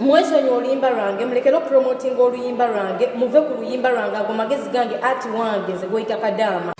mwesonyi oluyimba lwange mulekere okupromotinga oluyimba lwange muve ku luyimba lwange ago magezi gange ati wange nze gweyita kadaama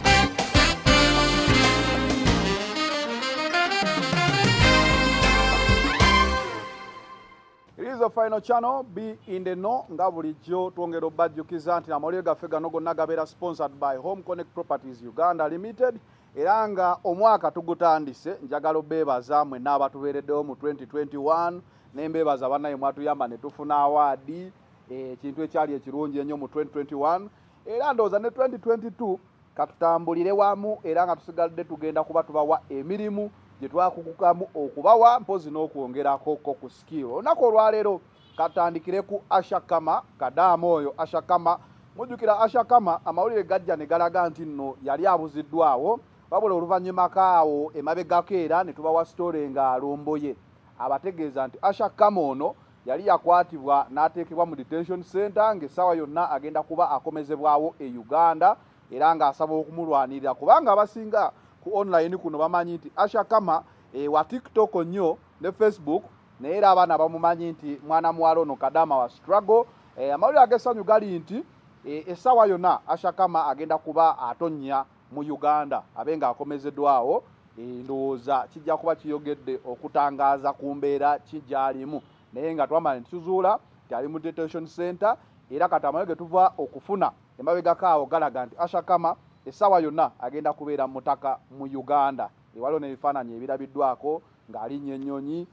izo final channel be in the know nga bulijjo twongera obajjukiza nti amawulire gaffe gano gonna gabeera sponsored by home connect properties uganda limited era nga omwaka tugutandise njagala obeebaza mwe naabatubeereddewo mu 2021 nembeebaza banaye mwatuyamba netufuna awaadi eh, ekintu ekyali ekirungi ennyo mu 2021 era ndowooza ne 2022 katutambulire wamu era nga tusigadde tugenda kuba tubawa emirimu gye twakugukamu okubawa mpozi n'okwongerako ko ku skill olunaku olwaleero katandikire ku ashakama kadaama oyo ashakama mujjukira ashakama amawulire gajja ne galaga nti nno yali abuziddwawo wabula oluvannyuma kaawo emabegako era ne tubawa sitore nga alomboye abategeeza nti ashakama ono yali yakwatibwa n'ateekebwa mu detention center ng'essaawa yonna agenda kuba akomezebwawo e uganda era ng'asaba okumulwanirira kubanga abasinga ku online kuno bamanyi nti ashakama ewa eh, tiktok nnyo ne facebook naye era abaana bamumanyi nti mwana muwala ono kadama wa struggle eh, amawulire agesanyu gali nti eh, essaawa yonna ashakama agenda kuba atonnya mu uganda abe nga akomezedwawo eh, ndowooza kijja kuba kiyogedde okutangaaza ku mbeera kigyalimu naye nga twamala nituzuula nti ali mu detention center era kati amayo ge tuva okufuna emabegako awo galaga nti ashakama essaawa yonna agenda kubeera mutaka mu uganda ewaliwo n'ebifaananyi ebirabiddwako ng'alinnya ennyonyi.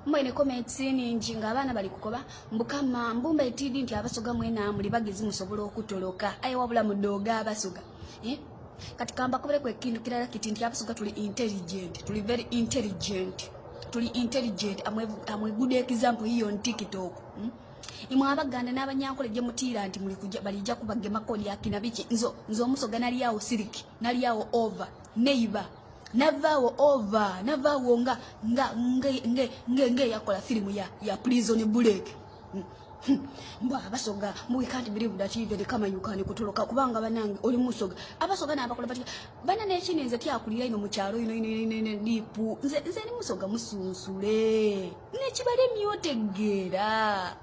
Mwe ne comments ningi nga abaana bali kukoba mbukama mbumba etidi nti abasoga mwena muli bagizi musobola okutoloka aye wabula mudoga abasoga eh? kati kamba kubere kwe kintu kirala kiti nti abasoga tuli intelligent tuli very intelligent tuli intelligent amwe amwe good example hiyo on tiktok hmm? imwe abaganda n'abanyankole gye mutiira nti muli kujja balijja kubagema kodi akina biki nzo nzo omusoga nali awo siliki nali awo over neighbor navaawo ova navaawo nga nga nge nge yakola firimu ya ya prison bulek hmm. hmm. mbwa abasoga mwe can't believe that you very come you can kutoloka kubanga banange oli musoga abasoga na abakola bati bana ne chini nze kya kulira ino mucharo ino ino ino ino dipu nze nze ni musoga musunsule ne kibale myote gera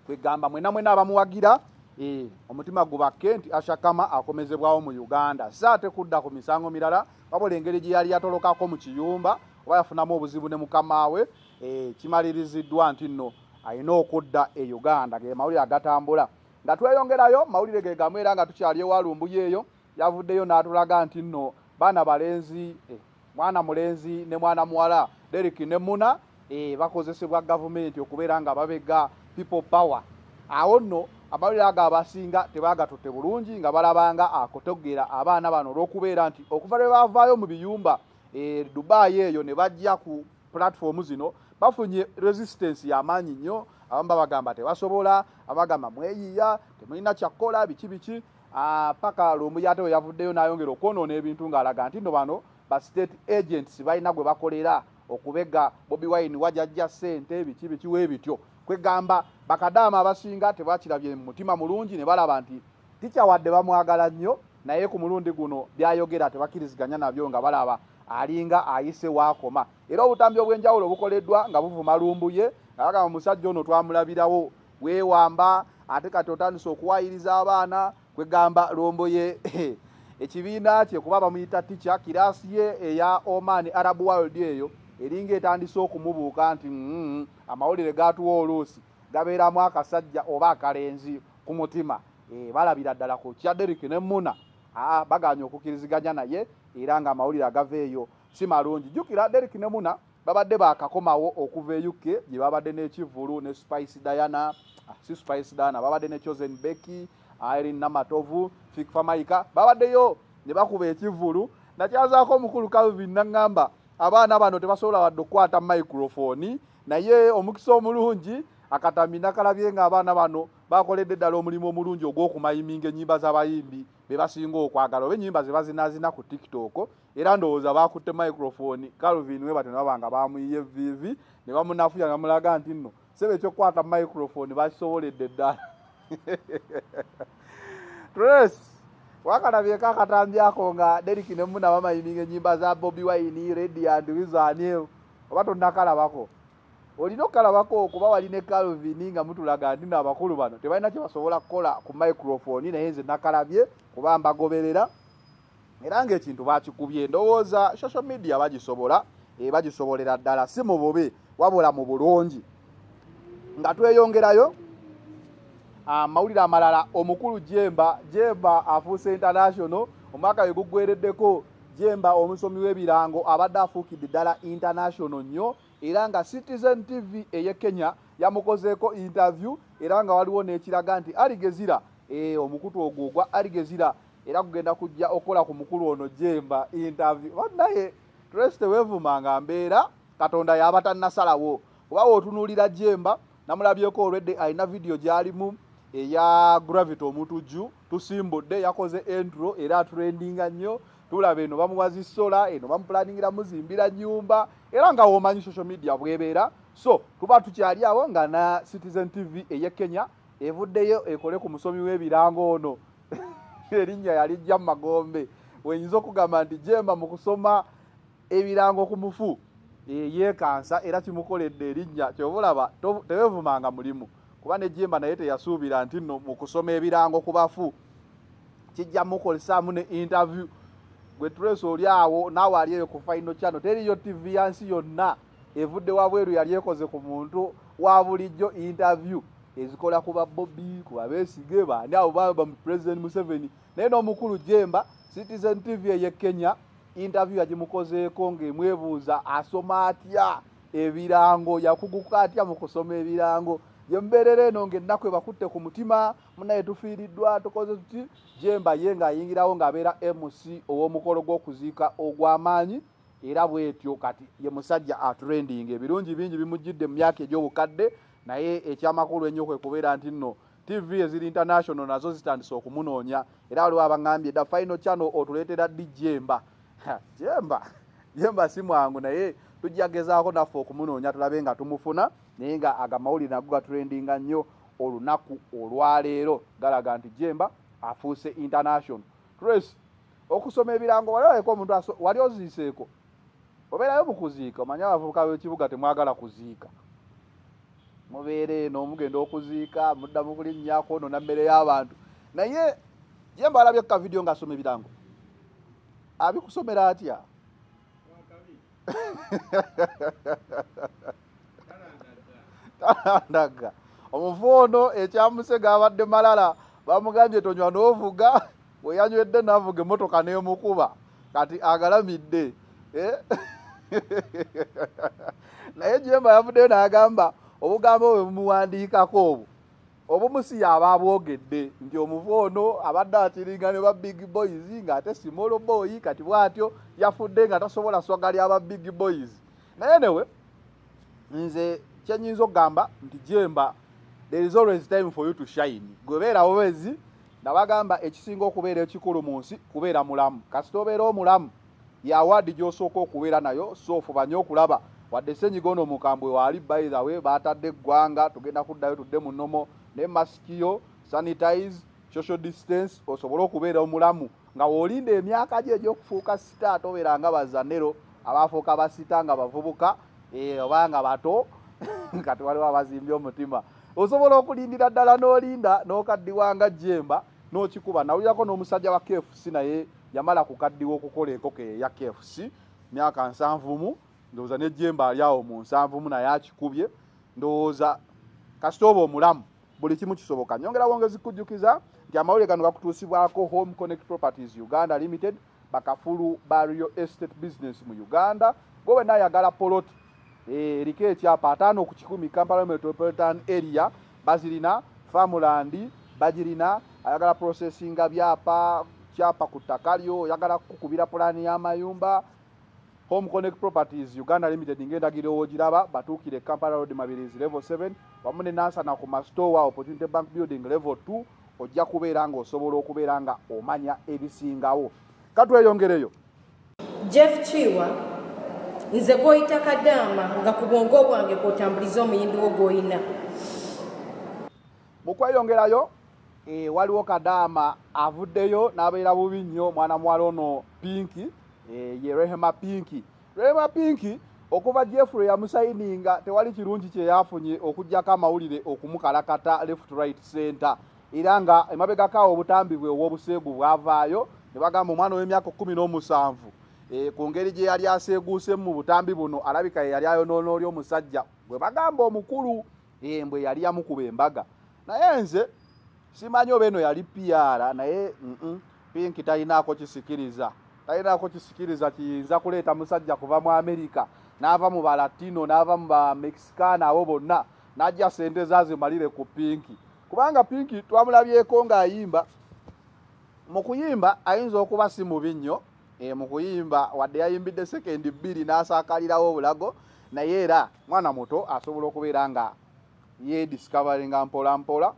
kwegamba mwena mwena abamuwagira e, omutima gubakke nti ashakama akomezebwawo mu uganda si ate kudda ku misango mirala wabula engeri gye yali yatolokako mu kiyumba oba yafunamu obuzibu ne mukamaawe e, kimaliriziddwa nti nno alina okudda e uganda ge mawulire agatambula nga tweyongerayo mawulire ge gamu era nga tukyali ewalumbuyo eyo yavuddeyo n'atulaga nti nno baana balenzi e, mwana mulenzi ne mwana muwala Derek ne Muna eh bakozesebwa government okubeera nga babega people power awo no amawulire ago abasinga tebagatutte bulungi nga balabanga akotogera abaana bano olw'okubeera nti okuva lwe bavaayo mu biyumba e dubai eyo ne bajja ku platform zino bafunye resistance y'amaanyi nnyo abamu babagamba tebasobola abagamba mweyiiya temulina kyakkola biki biki Ah, paka lumbuye ate weyavuddeyo nayongera okwonoona ebintu ng'alaga nti no bano ba state agents balina gwe bakolera okubega bobi wine wajajja sente biki bikiwa ebityo kwegamba bakadaama abasinga tebakirabye mutima mulungi ne balaba nti tikya wadde bamwagala nnyo naye ku mulundi guno byayogera tebakiriziganya nabyo nga balaba alinga ayise waakoma era obutambi obw'enjawulo bukoleddwa nga buvuma lumbuye nga bagamba musajja ono twamulabirawo wewamba ate kati otandise okuwayiriza abaana kwegamba lombo ye ekibiina kye kuba bamuyita ticha kiraasi ye eya oman arab world eyo eringa etandise okumubuuka nti mm, amawulire gatuwa oluusi gabeeramu akasajja oba akalenzi ku mutima e, balabira ddala ku kya derik ne muna aa baganye okukiriziganya naye era nga amawulire agava eyo si malungi jukira derik ne muna babadde baakakomawo okuva e uk gye babadde n'ekivvulu ne spice diana ah, si spice diana babadde ne chosen becky irin namatovu fikfamaika babaddeyo ne bakuba ekivvulu nakyazaako omukulu calvin naŋŋamba abaana bano tebasobola wadde okukwata microfoni naye omukisa omulungi akatami nakalabye nga abaana bano bakoledde ddala omulimu omulungi ogw'okumayiminga ennyimba z'abayimbi be basinga okwagala oba ennyimba ze bazinazina ku tiktok era ndowooza baakutte microphone calvin we batyo nababa nga baamuyiye viivi ne bamunafuya ne bamulaga nti nno sebe ekyokukwata microphone bakisoboledde ddala tres wakalabyeko akatambi ako nga derik ne muna bamayininga ennyimba za bobi wine redi and wizaneo oba tonnakalabako olina okukalabako kuba wali ne calvin nga mutulaga nti no abakulu bano tebalina kye basobola kukola ku microphone naye nze nakalabye kuba mbagoberera era ng'ekintu bakikubye ndowooza social media bagisobola e bagisobolera ddala si mu bubi wabula mu bulungi nga tweyongerayo amawulire amalala omukulu jemba jemba afuuse international omwaka we guggwereddeko jemba omusomi w'ebirango abadde afuukidde ddala international nnyo era nga citizen tv eye kenya yamukozeeko interview era nga waliwo n'ekiraga nti aligezira e, omukutu ogwo ogwa aligezira era kugenda kujja okukola ku mukulu ono jemba interview banaye tres tewevuma nga mbeera katonda yaba tannasalawo kuba wotunuulira jemba namulabyeko olwedde alina vidiyo gyalimu eya gravity omutujju tusimbudde yakoze entro era aturendinga nnyo tulaba eno bamuwazi sola eno bamupulaningira muzimbira nyumba era nga womanyi social media bwebeera so tuba tukyali awo nga na citizen tv eye kenya evuddeyo ekole ku musomi w'ebirango ono erinnya yalijja mu magombe wenyinza okugamba nti jemba mu kusoma ebirango ku mufu yeyekansa era kimukoledde erinnya kyoba olaba tewevumanga mulimu kuba ne jemba naye teyasuubira nti no mu kusoma ebirango ku bafu kijja mukolesaamu ne interview gwe tulesi oli awo naawe ali eyo ku final channel teriyo tv yansi yonna evudde wabweru yali ekoze ku muntu wa bulijjo interview ezikola ku babobi ku babesige bandi abo baba mu president museveni naye n'omukulu jemba citizen tv eye kenya interview yagimukozeeko ng'emwebuuza asoma atya ebirango yakuguka atya mu kusoma ebirango yembeerera eno ng'ennaku ebakutte ku mutima munaye tufiiriddwa tukoze tuti jemba ye ng'ayingirawo ng'abeera mc ow'omukolo gw'okuziika ogw'amaanyi era bwetyo kati ye musajja atrending ebirungi bingi bimujjidde mu myaka egy'obukadde naye ekyamakulu ennyo kwe kubeera nti nno tv eziri international nazo zitandise okumunoonya era waliwo abaŋambye da final channel otuleetera ddi jemba jemba jemba si mwangu naye tujja gezaako naffe okumunoonya tulabe nga tumufuna naye nga agamawulire nago gatrendinga nnyo olunaku olwaleero galaga nti jemba afuuse international tres okusoma ebirango wali olabeko omuntu wali oziiseeko obeerayo mu kuziika omanye abavubuka b'ekibuga temwagala kuziika mubeera eno mugenda okuziika mudda mu kulinnya kwonoona mmere y'abantu naye ye mbalabye ku kavidiyo ng'asoma ebirango abikusomera atya talandaga omufu ono ekyamuse gabadde malala bamugambye tonywa n'ovuga weyanywedde navuga emotoka nemukuba kati agalamidde eh? naye jemba yavuddeyo nagamba obugambo bwe bumuwandiikako obwo obumu si yaba abwogedde nti omuvu ono abadde akiringa ne ba big boys ng'ate simolo boyi kati bw'atyo yafudde nga tasobola swaga lya ba big boys naye newe nze kyenyinza okugamba nti jemba there is always time for you to shine gwebeerawo bezi nabagamba ekisinga okubeera ekikulu mu nsi kubeera mulamu kasita obeera omulamu ya ward gyosooka okubeera nayo so fubanye okulaba wadde senyiga ono omukambwe waali by the way baatadde eggwanga tugenda kuddayo tudde mu nomo ne masikiyo sanitize social distance osobole okubeera omulamu nga wolinda emyaka gye egyokufuuka sita tobeera nga bazanero abaafuuka basita nga bavubuka eh, oba nga bato kati waliwo abazimbye omutima osobola okulindira ddala n'olinda n'okaddiwanga jemba n'okikuba nawulirako n'omusajja wa kfc naye yamala kukaddiwa okukola enkoko eyo eya kfc myaka nsanvumu ndowooza nejjemba ali awo mu nsanvumu naye akikubye ndowooza kasita oba omulamu buli kimu kisoboka nyongera wongezi kujjukiza nti amawulire gano gakutuusibwako home connect properties uganda limited bakafulu ba rio estate business mu uganda gwe wenna ayagala poloti Eh, eriko ekyapa ataano ku kikumi kampala metropolitan area bazirina famulandi bagirina ayagala processinga byapa kyapa ku ttaka lyo oyagala kukubira pulaani y'amayumba home connect properties uganda limited ngaendagiro wogiraba batuukire kampala road mabirizi level 7 wamu ne nansana ku mastowa opportunity bank building level 2 ojja kubeera ngaosobola okubeera nga omanya ebisingawo katweyongereyo Jeff Kiiwa, Nze gw'oyita kadaama nga ku bwongo bwange kw'otambuliza omuyimbi wo gw'olina. Mu kweyongerayo e, waliwo kadaama avuddeyo n'abeera bubi nnyo mwana muwala ono Pinki e, ye Rehema Pinki. Rehema Pinki okuva jeffrey yamusayininga tewali kirungi kyeyafunye okujjako amawulire okumukalakata left right center era nga emabegako awo obutambi bwe ow'obuseegu bwavaayo ne bagamba omwana ow'emyaka kkumi n'omusanvu e, ku ngeri gye yali aseeguusemu mu butambi buno alabika ye yali ayonoona oli omusajja gwe bagamba omukulu embwe yali yamukuba embaga naye nze simanyi oba eno yali piyaara naye pinki talinaako kisikiriza talinaako kisikiriza kiyinza kuleeta musajja kuva mu amerika n'ava mu balatino n'ava mu bamexikaana abo bonna n'ajja sente zaazimalire ku pinki kubanga pinki twamulabyeko ng'ayimba mu kuyimba ayinza okuba si mubi nnyo eh, mu kuyimba wadde yayimbidde sekendi bbiri n'asaakalirawo obulago naye era mwana muto asobola okubeera nga yediscoveringa mpola mpola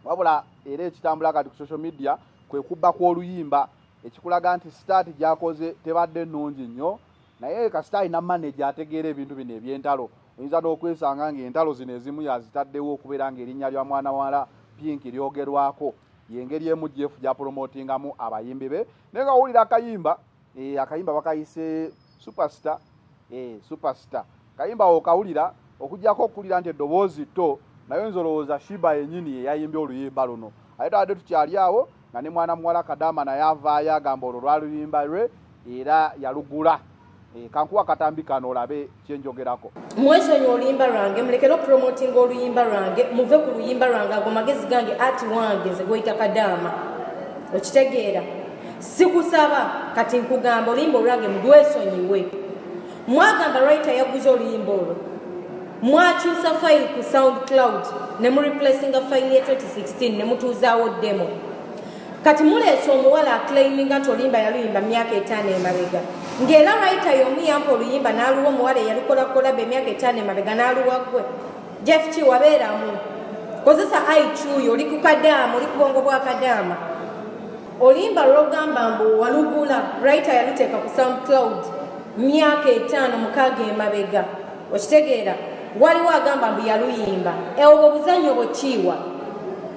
wabula era ekitambula kati ku social media kwe kubba kw'oluyimba ekikulaga nti sitaati gyakoze tebadde nnungi nnyo Naye kasita alina manager ategeera ebintu bino eby'entalo, oyinza n'okwesanga ng'entalo zino ezimu yazitaddewo okubeera ng'erinnya lya mwana muwala Pink lyogerwako. Y'engeri emu Jeff gy'apulomootingamu abayimbi be. Naye nga wowulira akayimba, eh, akayimba bakayise Superstar, eh, Superstar. Kayimba awo okawulira okujjako okuwulira nti eddoboozi tto naye nze olowooza Shiba yenyini yeyayimbye oluyimba luno ate twabadde tukyali awo nga ne mwana muwala Kadaama naye avaayo agamba olwo lwali luyimba lwe era yalugula eh, kankuwa katambi kano olabe kyenjogerako. Mwesonyiwe oluyimba lwange mulekere okupromotinga oluyimba lwange muve ku luyimba lwange ago magezi gange ati wange nze gweyita Kadaama okitegeera sikusaba kati nkugamba oluyimba olwange mulwesonyiwe. Mwagamba writer yaguze oluyimba olwo. Mwakyusa file ku SoundCloud ne mu replacinga file ye 2016 ne mutuuzaawo demo. Kati muleese omuwala aclaiminga nti oluyimba yaluyimba myaka etaano emabega. Ng'era writer y'omu yampa oluyimba n'aluwa omuwala eyalukola kolaba emyaka etaano emabega n'aluwa ggwe. Jeff ki wabeeramu. Kozesa IQ yo oli ku kadaama oli ku bwongo bwa kadaama. olimba lwogamba mbu walugula writer yaluteeka ku soundcloud myaka etaano mukaaga emabega okitegeera waliwo agamba mbu yaluyimba eobwo buzanyo bwekiiwa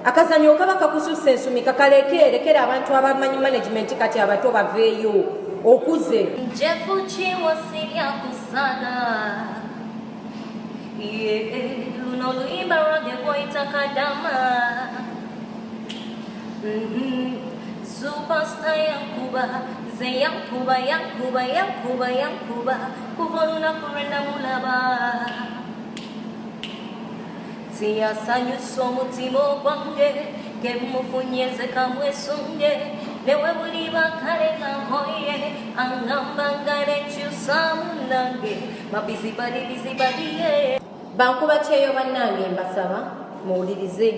akazanyo okaba kakususa ensumika kalekeerekera abantu abamanyi management kati abato baveeyo okuze luno luyimba lwage bwoyita kadama Superstar yankuba nze yankuba yankuba yankuba yankuba kuva olunaku lwe namulaba tiyasanyusa omutima ogwange kemufunye nze kamwesunge newe buliba kale nankoye angamba nga nekyusamu nange mabizibali bizibaliye bankuba kyeyo bannange mbasaba muwulirize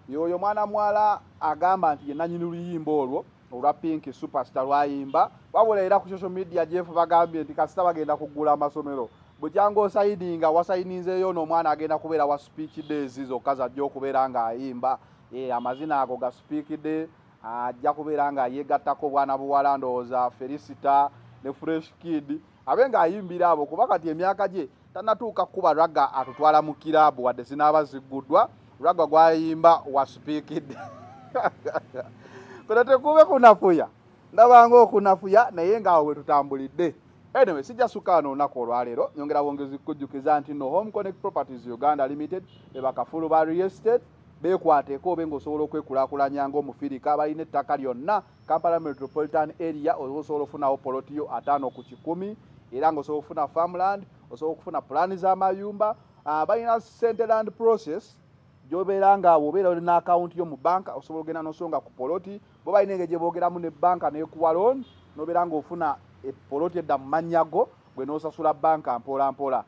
Yoyo mwana mwala agamba nti yenanyini luyimba olwo olwa pinki superstar lwayimba wabula era ku social media jeff bagambye nti kasita bagenda kuggula amasomero bukyanga osayininga wasayininzeeyo ono omwana agenda kubeera wa speech days zokka zajja okubeera ng'ayimba e, amazina ago ga speak day ajja kubeera nga yegattako obwana buwala ndowooza felicita ne fresh kid abe ng'ayimbira abo kuba kati emyaka gye tanatuuka kukuba ragga atutwala mu kiraabu wadde zinaaba zigguddwa ragga gwayimba wasupiikidde kuno tekube kunafuya ndabanga okunafuya naye ngaawo bwe tutambulidde anyway sijja sukaano olunaku olwaleero nyongera bwongezi kukujjukiza nti no home connect properties uganda limited bebakafulu ba real estate beekwateko obe ng'osobola okwekulaakulanya ng'omufirika balina ettaka lyonna Kampala Metropolitan Area osobola ofunawo poloti yo ataano ku kikumi era nga osobola okufuna farmland osobola okufuna pulaani z'amayumba ah, balina sente land process gyobeera nga wobeera oli n'akawunti yo mu banka osobola ogenda nosonga ku poloti bo balina engeri gye boogeramu ne banka n'ekuwa looni nobeera ng'ofuna epoloti edda mu mannya go gwe n'osasula banka mpolampola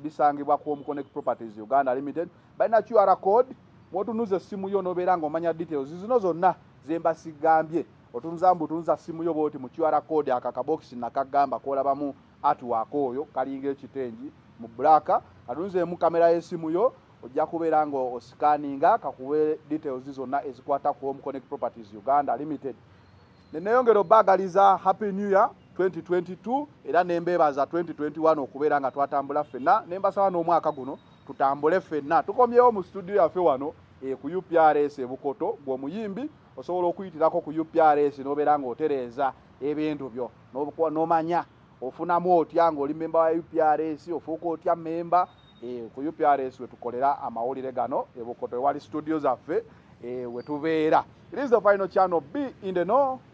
bisangibwa ku omuconnect properties uganda limited balina qr code mwotunuza essimu yo nobeera ng'omanya details zino zonna Zembasigambye otunza mbu tunza simu yo bwoti mu QR code aka kabokisi nakagamba kolabamu artwork oyo kalinga ekitengi mu black katunzeemu kamera y'esimu yo ojja kubeera nga osikaninga kakuwe details zonna ezikwata ku home connect properties uganda limited neneyongera obaagaliza happy new year 2022 era nembeebaza 2021 okubeera nga twatambula ffenna nembasaba n'omwaka guno tutambule ffenna tukomyewo mu studio yaffe wano E ku UPRS e Bukoto gwe omuyimbi osobola okuyitirako ku UPRS n'obeera ng'otereeza ebintu byo n'omanya ofunamu otya ng'oli mmemba wa UPRS ofuuka otya mmemba e, ku UPRS we tukolera amawulire gano e Bukoto ewali situdiyo zaffe e, we tubeera. It is the final channel. Be in the know.